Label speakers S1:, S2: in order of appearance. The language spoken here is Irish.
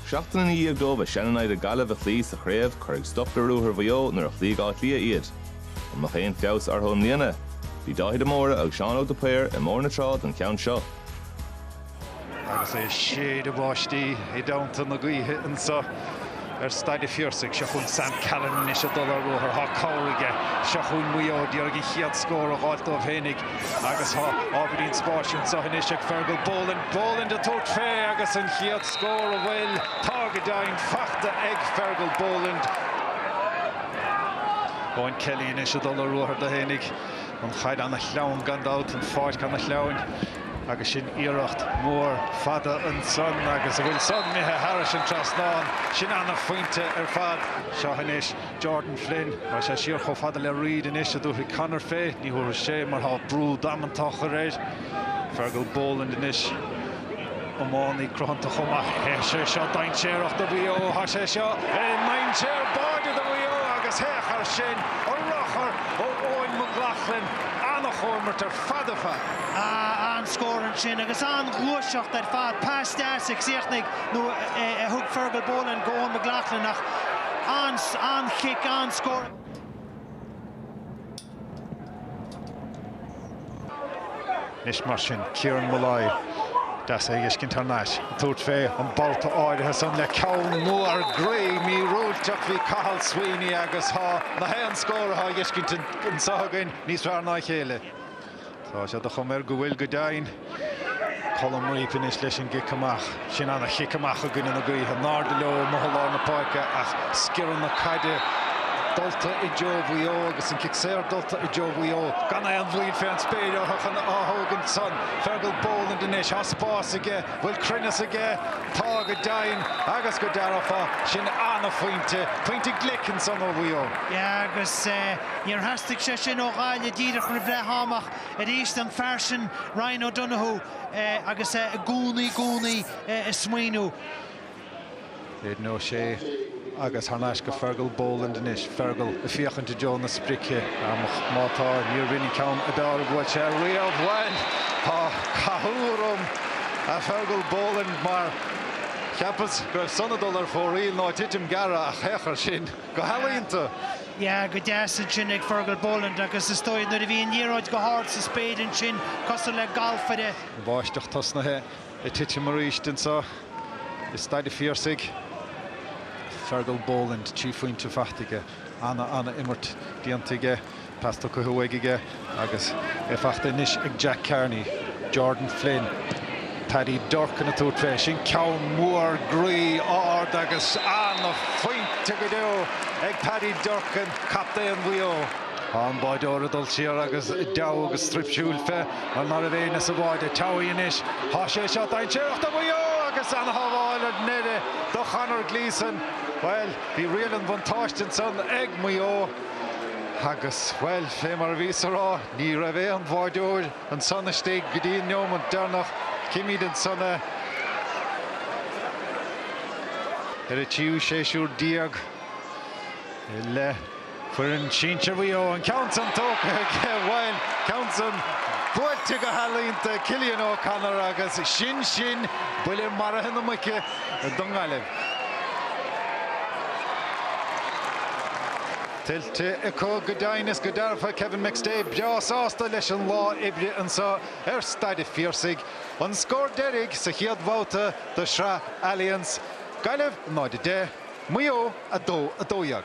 S1: Seachtain ina dhiaidh dóibh a seannamhaid an Ghaillimh a chloí sa chraobh, cuireadh stop le ruathar Mhaigh Eo nuair a chloígh Áth Cliath iad. An mbeadh aon feabhas orthu i mbliana? Bhí Dáithí de Mórdha agus Seán Óg de Paor i mBóthar na Trá don cheann seo. Agus é ag séideadh báistí i dteannta na gaoithe anseo ar Staid a' Phiarsaigh. Seo chugainn Sam Callinan anois ag dul ar ruathar. Tá cabhair aige. Seo chugainn Maigh Eo ag iarraidh an chéad scór a dh'fháilt dóibh féinig agus tá ábhairín spáis anseo anois ag Fergal Boland. Boland ag tabhairt fé agus an chéad scór an bhfuil. Tá go deimhin fachta ag Fergal Boland. Eoghan Kelly anois ag dul ar ruathar dó fhéinig. An chaid ana shleamhain gan dabht, an pháirc ana shleamhain. Agus sin iarracht mhór fada ansan agus an bhfuil san imithe thairis an trasnán, sin ana-phointe ar fad. Seo anois Jordan Flynn. Tá sé siar chomh fada le Reid anois, an dtabharfaidh Conor fé? Ní thabharfaidh sé mar tá brú damanta á chur air. Fergal Boland anois. Iománaí cruthanta chomh maith. Tá sé seo dainséarach do Mhaigh Eo. Tá sé seo i ndainséar báide do Mhaigh Eo agus féach air sin an ruchar ó Eoghan McLaughlin. An-chomhimirt ar fad ar fad. An-scór ansin agus an-ghluaiseacht ar fad. Pas deas a chríochnaigh nó a thug Fergal Boland go Eoghan McLaughlin ach an-chic, an-scór. Anois mar sin, Kieran Molloy, deas é a fheiscint thar n-ais, ag tabhairt fé an babhta áirithe san le ceann mór groí míorúilteach, bhí Cathal Sweeney agus tá na haon scór atá á fheiscint anseo againn níos fearr ná a chéile. Tá sé de chuma air go bhfuil, go deimhin. Colm Reape anois leis an gcic amach. Sin an-chic amach i gcoinne na gaoithe. In airde leo amuigh i lár na páirce ach sciorradh na caide dulta i dtreo Mhaigh Eo agus an cic saor dulta i dtreo Mhaigh Eo. Gan aon mhoill fé an spéir orthu chun á thógaint san. Fergal Boland anois. Tá spás aige. Bhfuil cruinneas aige? Tá, go deimhin. Agus go dearfa, sin an-phointe. Pointe glic ansan ó Mhaigh Eo. Yeah, agus. Níor theastaigh sé sin ó Ghaillimh díreach roimh leath am ach arís an fear sin Ryan O'Donoghue agus é i gcónaí gcónaí ag smaoineamh. Aidan O'Shea agus thar n-ais go Fergal Boland anois. Fergal ag féachaint i dtreo na sprice. Ach má tá, níorbh in é an ceann ab fhearr a bhuail sé riamh. Bhuel! Tá cathú orm, a Fergal Boland, mar cheapas go raibh san ag dul ar fóraoil nó ag titim gearra ach, féach air sin! Go healaíonta! Yeah, go deas ansin ag Fergal Boland agus is dóigh nuair a bhí an liathróid go hard sa spéir ansin, cosúil le galfaire, An bháisteach tosnaithe ag titim arís anseo i Staid a' Phiarsaigh. Fergal Boland, trí phointe faighte aige. Ana, ana imirt déanta aige. Pas tugtha uaidh aige agus é faighte anois ag Jack Carney. Jordan Flynn, Paddy Durcan ag tabhairt fé. Sin ceann mór groí ard agus an-phointe go deo ag Paddy Durcan, captaen Mhaigh Eo. Tá an báireoir ag dul siar agus deabhadh agus struip siúil fé. An mar a bheidh an bád ag teacht amach anois. Tá sé seo dainséarach do Mhaigh Eo agus an-shábháil ar deireadh do Chonor Gleeson. Bhuel, bhí riail an bhuntáiste ansan ag Maigh Eo. Agus, bhuel, fé mar a bhíos ag rá, ní raibh aon bháireoir ansan istigh go dtí an neomant deireanach. Chímid ansan é ar a tríú séasúr déag i leith foireann sinsir Mhaigh Eo. An ceann san tógtha aige, bhuel, ceann san buailte go healaíonta ag Cillian O'Connor agus sin sin, buille maraithe na muice. don nGaillimh. Tuillte acu go deimhin is go dearfa, Kevin McStay breá sásta leis an lá oibre anseo ar Staid an Phiarsaigh, an scór deiridh sa chéad bhabhta de Shraith Allianz, Gaillimh 0, 10, Maigh Eo 2, 12.